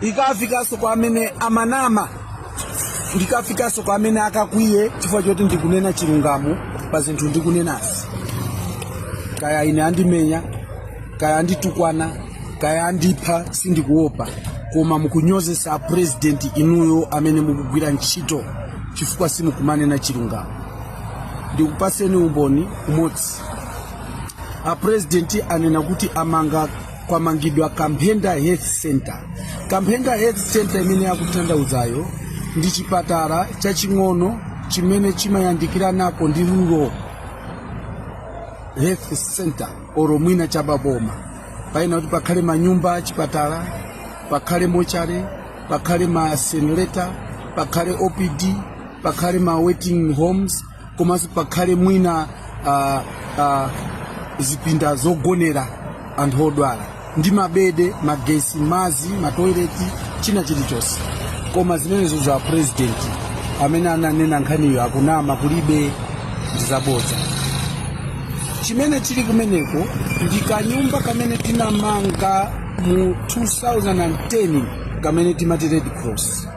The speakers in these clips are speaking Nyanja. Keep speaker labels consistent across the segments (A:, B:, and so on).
A: ikafikenso kwa amene amanama ndikafikanso kwa amene akakwiye chifukwa choti ndikunena chilungamo pa zinthu ndikunenazi kaya ine andimenya kaya anditukwana kaya andipha sindikuopa koma mukunyozesa apurezidenti inuyo amene mukugwira ntchito chifukwa simukumanena chilungamo ndikupaseni umboni umodzi apurezidenti anena kuti amanga kwamangidwa kamphenda health center kamphenda health center imene akuthandauzayo ndi chipatala chaching'ono chimene chimayandikiranako ndi rural health center oro mwina chababoma paina kuti pakhale manyumba achipatala pakhale mochare pakhale ma incinerator pakhale opd pakhale ma waiting homes komanso pakhale mwina zipinda zogonera anthu odwala ndi mabede magesi mazi matoileti china chilichonse koma zimenezo a president amene ananena nkhaniyo akunama kulibe ndizabodza chimene chili kumeneko ndi kanyumba kamene tinamanga mu 2010 kamene timati red cross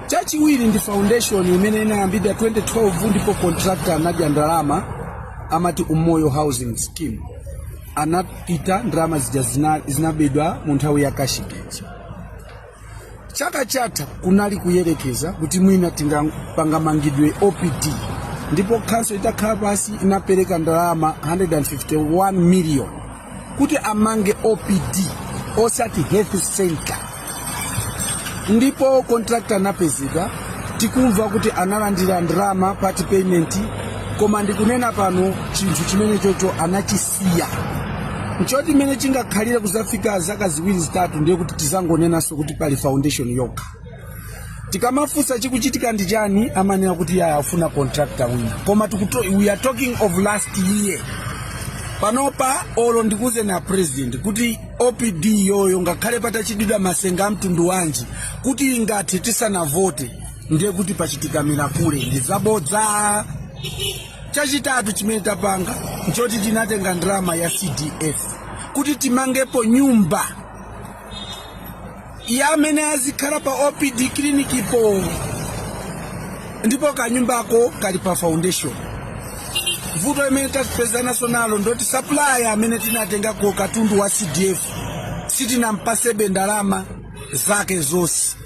A: Chachiwiri ndi foundation imene inayambidwa 2012 ndipo contractor anadya ndalama amati Umoyo Housing Scheme. Anapita ndalama zinabedwa mu nthawi ya Cashgate. Chaka chatha kunali kuyerekeza kuti mwina pangamangidwe OPD ndipo khonsolo itakhala pansi inapereka ndalama 151 million kuti amange opd osati health center ndipo contractor anapezeka tikumva kuti analandira ndalama part payment koma ndikunena pano chinthu chimenechocho anachisiya nchoti mmene chingakhalire kuzafika zaka ziwiri zitatu ndiye kuti tizangonenanso kuti pali foundation yokha tikamafunsa chikuchitika ndi chani amanena kuti ayi afuna contractor wina koma we are talking of last year panopa olo ndikauze a president kuti opd iyoyo ngakhale patachitidwa masenga a mtundu wanji kuti ingathe tisanavote ndiye kuti pachitika mirakule ndi zabodza chachitatu chimene tapanga nchoti tinatenga ndalama ya cdf kuti timangepo nyumba ya amene azikhala pa opd clinicpo ndipo kanyumbako kali pa foundation vuto imene tapezananso nalo ndoti supplier amene tinatengako katundu wa cdf sitinampasebe ndalama zake zonse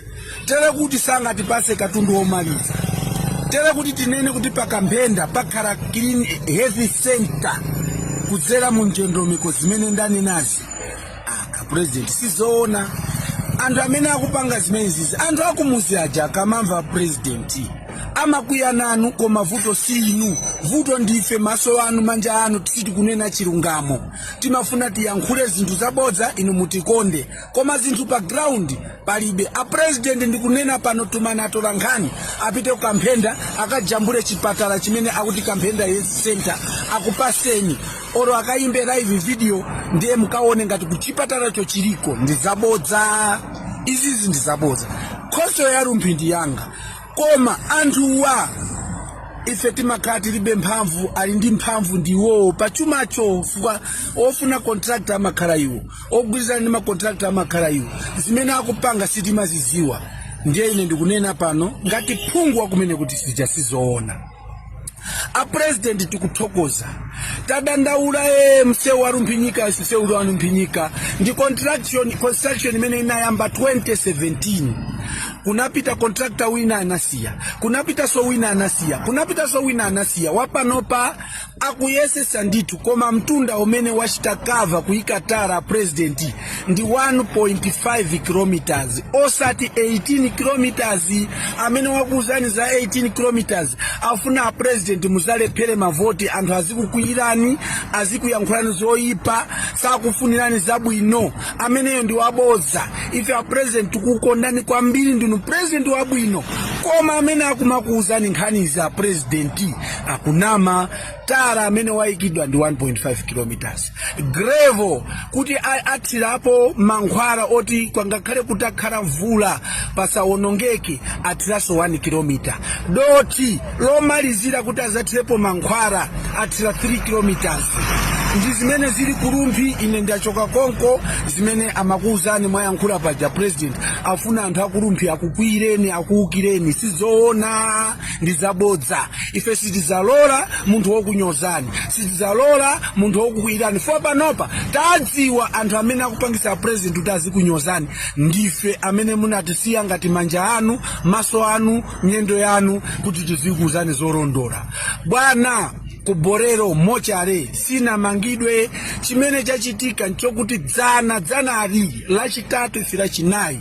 A: tere kuti sangatipase katundu womaliza tere kuti tinene kuti pakamphenda pakhala health center kudzera mu ndondomeko zimene ndanenazi a president sizoona anthu amene akupanga zimenezizi, anthu akumuzi aja akamamva a president amakwiya nanu koma vuto si inu vuto ndife maso anu manja anu sitikunena chilungamo timafuna tiyankhule zinthu zabodza inu mutikonde koma zinthu pa ground palibe a president ndikunena pano tumani atola nkhani apite kukamphenda akajambule chipatala chimene akuti kamphenda health center akupaseni oro akayimbe live video ndiye mukawone ngati kuchipatalacho chiliko ndi zabodza izizi ndi zabodza khonsolo ya Rumphi ndi yanga koma anthuwa ife timakhala tilibe mphamvu ali ndi mphamvu ndi iwowo pa chumacho fukwa ofuna contractor amakhala iwo ogwirizana ndi macontractor amakhala iwo zimene akupanga sitimaziziwa ndiye ine ndikunena pano ngati phungu wakumene kuti sija sizoona a president tukuthokoza tadandaula ee msewu wa Rumphi Nyika msewu wa Rumphi Nyika ndi contraction construction imene inayamba 2017 kunapita contractor wina anasiya kunapitaso wina anasiya kunapitaso wina anasiya wapanopa akuyesesa ndithu koma mtunda umene wachita kava kuika tara a president ndi 1.5 kilometers osati 18 kilometers amene wakuuzani za 18 kilometers afuna a president muzalephere mavoti anthu azikukwiyirani azikuyankhulani zoyipa sakufunirani zabwino ameneyo ndi wabodza ife a president tukukondani kwambiri ndinu president wabwino koma amene akumakuuzani nkhanizi a president akunama tara amene wayikidwa ndi 1.5 kilometers grevo kuti a- athirapo mankhwala oti kwangakhale kutakhala mvula pasawonongeke athiranso 1 kilometer doti lomalizira kuti azathirepo mankhwala athira 3 kilometers ndi zimene zili ku Rumphi ine ndachoka konko zimene amakuwuzani mwayankhula paja a president afuna anthu a ku Rumphi akukwiyireni akuwukireni sizoona ndi zabodza ife sitizalola munthu wokunyozani sitizalola munthu wokukwiyirani fo panopa tadziwa anthu amene akupangisa president kuti azikunyozani ndife amene munatisiya ngati manja anu maso anu miyendo yanu kuti tizikuuzani zolondola bwana ku Bolero mochare sinamangidwe chimene chachitika nchokuti dzana dzanali lachitatu ife lachinayi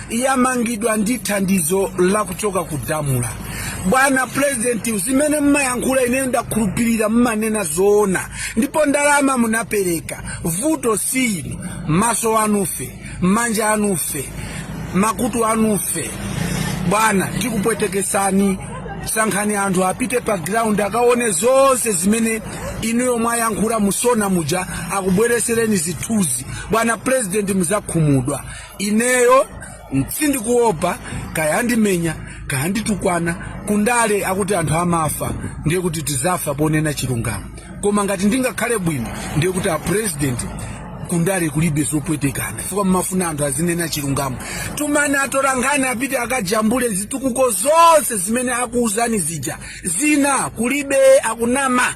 A: yamangidwa ndi thandizo la kuchoka ku DAMRA bwana purezidenti zimene mmayankhula ineyo ndakhulupirira mmanena zoona ndipo ndalama munapereka vuto si inu maso anu ife manja anu ife makutu anu ife bwana tikupwetekesani sankhani anthu apite pa ground akaone zonse zimene inuyo mwayankhula mu SONA muja akubweresereni zithunzi bwana purezidenti muzakhumudwa ineyo sindikuopa kaya andimenya kaya anditukwana kundale akuti anthu amafa ndiye kuti tizafa ponena chilungamo koma ngati ndingakhale bwino ndiye kuti apresident kundale kulibe zopwetekana chifukwa mmafuna anthu azinena chilungamo tumani atolankhani apite akajambule zitukuko zonse zimene akuuzani zija zina kulibe akunama